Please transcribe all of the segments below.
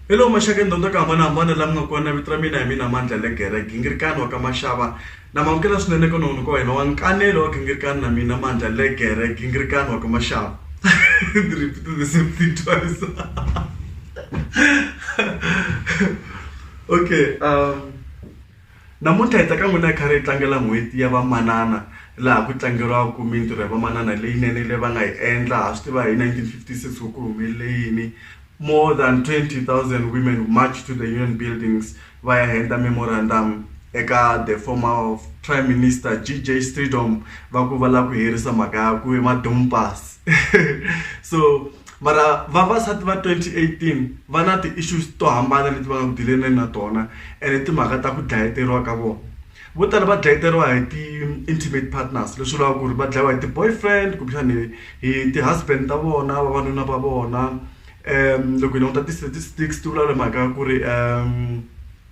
hello maxaka ndonda ka hambana hambana la mi nga kona vito ra mina hi mina mandla le gere gingirikani wa ka maxava na mamukela swinene ka nohunu ka wena wa nkanelo wa gingirikani na mina mandla le gere gingirikani wa ka maxava ndzi repeat the same thing twice Okay um namuntlha hi ta ka n'wina hi karhi hi tlangela n'hweti ya vamanana laha ku tlangeriwaka mintirho ya vamanana leyinene leyi va nga yi endla ha swi tiva hi nineteen fifty six ku ku humelele yini more than twenty thousand women march to the union buildings va ya heta memorandum eka the former of prime minister G_J Streetom va ku va lava ku herisa mhaka ya ku i ma-dumpers. so mara vavasati va 2018 va na ti-issues to hambana leti va nga dilene na tona ene timhaka ta ku dlayeteriwa ka vona vo tala va dlayeteriwa hi ti-intimate partners leswi vulaka ku ri va dlayiwa hi ti-boyfriend kumbexani hi ti-husband ta vona vavanuna va vona um loko hi languta ti-statistics ti vulavula mhaka ya ku ri um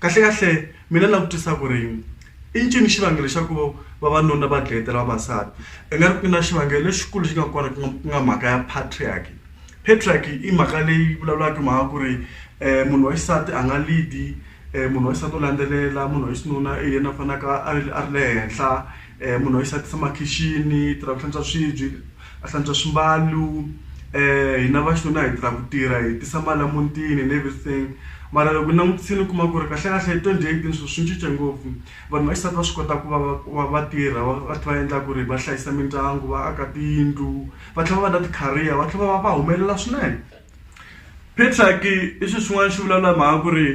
kahle kahle mina na vutisa ku ri i ncini xivangelo xa ku vavanuna va dlayetela vavasati i nga ri ku na xivangelo lexikulu xi nga kona ku nga ku nga mhaka ya patriarchy patriarchy i mhaka leyi vulavulaka mhaka ku ri munhu wa xisati a nga lead-i munhu wa xisati u landzelela munhu wa xinuna i yena a fanaka a ri le henhla. munhu wa xisati tshama khixini i tirha ku hlantswa swibye a hlantswa swimbalo hina va xinuna hi tirha ku tirha hi tisa mali a mutini and everything mara loko hi langutisile u kuma ku ri kahlekahle twenty eighteen swilo swi cince ngopfu vanhu va xisati va swi kota ku va va va tirha va va tlhela va endla ku ri va hlayisa mindyangu va aka tiyindlu va tlhela va va na ti-career va tlhela va va va humelela swinene i swilo swin'wana swi vulavula hi mhaka ku ri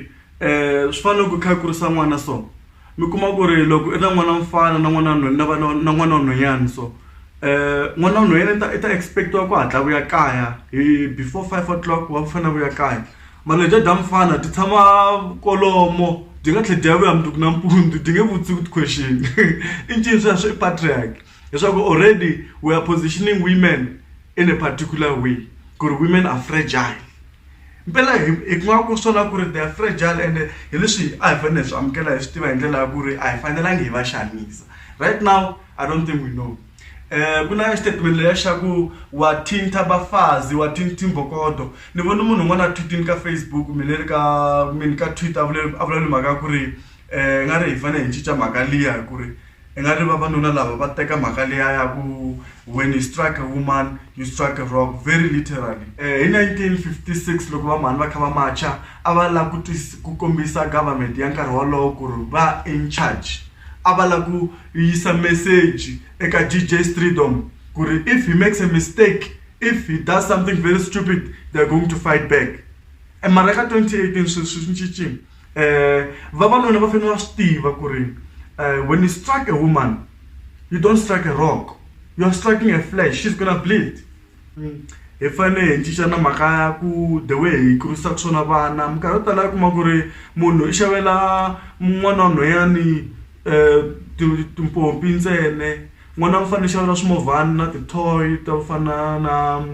swi fana na loko u kha u kurisa n'wana so. mi kuma ku ri loko i na n'wana wa mufana na n'wana na va na na n'wana wa nhwanyana so n'wana wa nhwanyana i ta i ta expect-iwa ku hatla a vuya kaya hi before five o'clock wa mufana a vuya kaya mara lebyiya bya mufana byi tshama kwalomo byi nga tlhe byi ya vuya mundzuku nampundzu byi nge vutisi ku ti-question i ncini sweswo i patriarch. leswaku already we are positioning women in a particular way ku ri women are fragile mpela hi hi ku nga ku swona ku ri they are fragile and hi leswi a hi fanele hi swi amukela hi swi tiva hi ndlela ya ku ri a hi fanelangi hi va xanisa right now i don't think we know um ku na statement leya xa ku wa thinta bafazi wa thinti mbokodo ni vone munhu un'wana a thwitini ka facebook mi le ri ka mini ka twitter a vula a vulavula mhaka ya ku ri um nga ri hi fanele hi cinca mhaka liya hi ku ri I nga ri vavanuna lava va teka mhaka liya ya ku when you strike a woman you strike a rock very literally hi 1956 loko va mhani va kha va macha a va lava ku ku kombisa government ya nkarhi wolowo ku ri va in charge a va lava ku yisa meseji eka DJ Streedom ku ri if he makes a mistake if he does something very stupid they are going to fight back e mara ka 2018 sweswi swi cincile. um vavanuna va fanele va swi tiva ku ri um when you strike a woman you don't strike a rock you are striking a flash she's gonna bleed mm. hi fanele hi cinca na mhaka ya ku the way hi kurisaka swona vana minkarhi yo tala yi kuma ku ri munhu i xavela n'wana wa nhwanyani um timpompi ntsene N'wana wa mufana xava swimovhana na ti-toy to fana na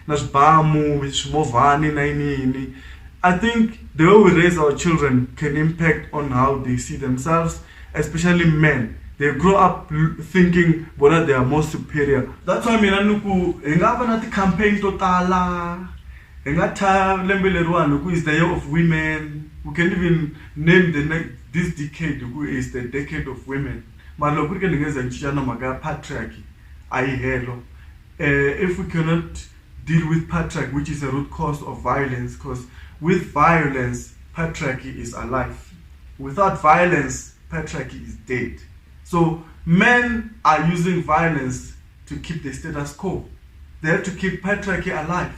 na swibamu swimovhana na yini yini I think the way we raise our children can impact on how they see themselves especially men they grow up thinking vona they are more superior that's why mina ni ku hi nga va na ti-campaign to tala hi nga thya lembe leriwani hi ku is the year of women we can even name the next this decade hi ku is the decade of women. Mara loko ku ri ke ni nge za ni cinca na mhaka ya patriarchy a yi helo um if we cannot deal with patriarchy which is a root cause of violence because with violence patriarchy is alive without violence patriarchy is dead so men are using violence to keep the status quo they have to keep patriarchy alive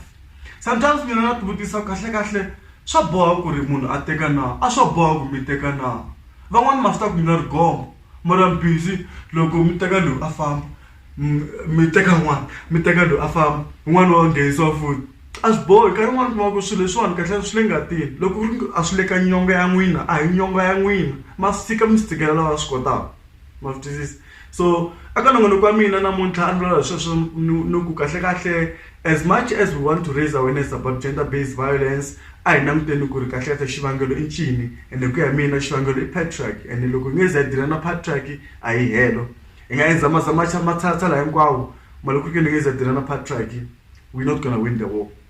sometimes mina na tivutisa kahle kahle swa boha ku ri munhu a teka na a swa boha ku mi teka na van'wani ma swi tiva ku ni na ri gome mara mi busy loko mi teka loyi a famba mi teka n'wana mi teka loyi a famba wun'wani wa nghenisiwa futhi a swi bohi nkarhi wun'wani u kuma ku swilo leswiwani kahlekahle swi le ngatini loko ku ri ku a swi le ka nyonga ya n'wina a hi nyonga ya n'wina ma sika mi swi tshikelela lava swi kotaka ma swi twisisa. so aka nongonoko wa mina namuntlha a ni vulavula hi sweswo ni ku kahlekahle as much as we want to raise awareness about gender based violence a hi languteni ku ri kahlekahle xivangelo i ncini ende ku ya mina xivangelo i patriarch ende loko hi nge ze hi dila na patriarch a hi helo hi nga endza mazamaxa matshatsa laha hinkwawo mali ku ri ke ni nge ze hi dila na patriarch we not gonna win the war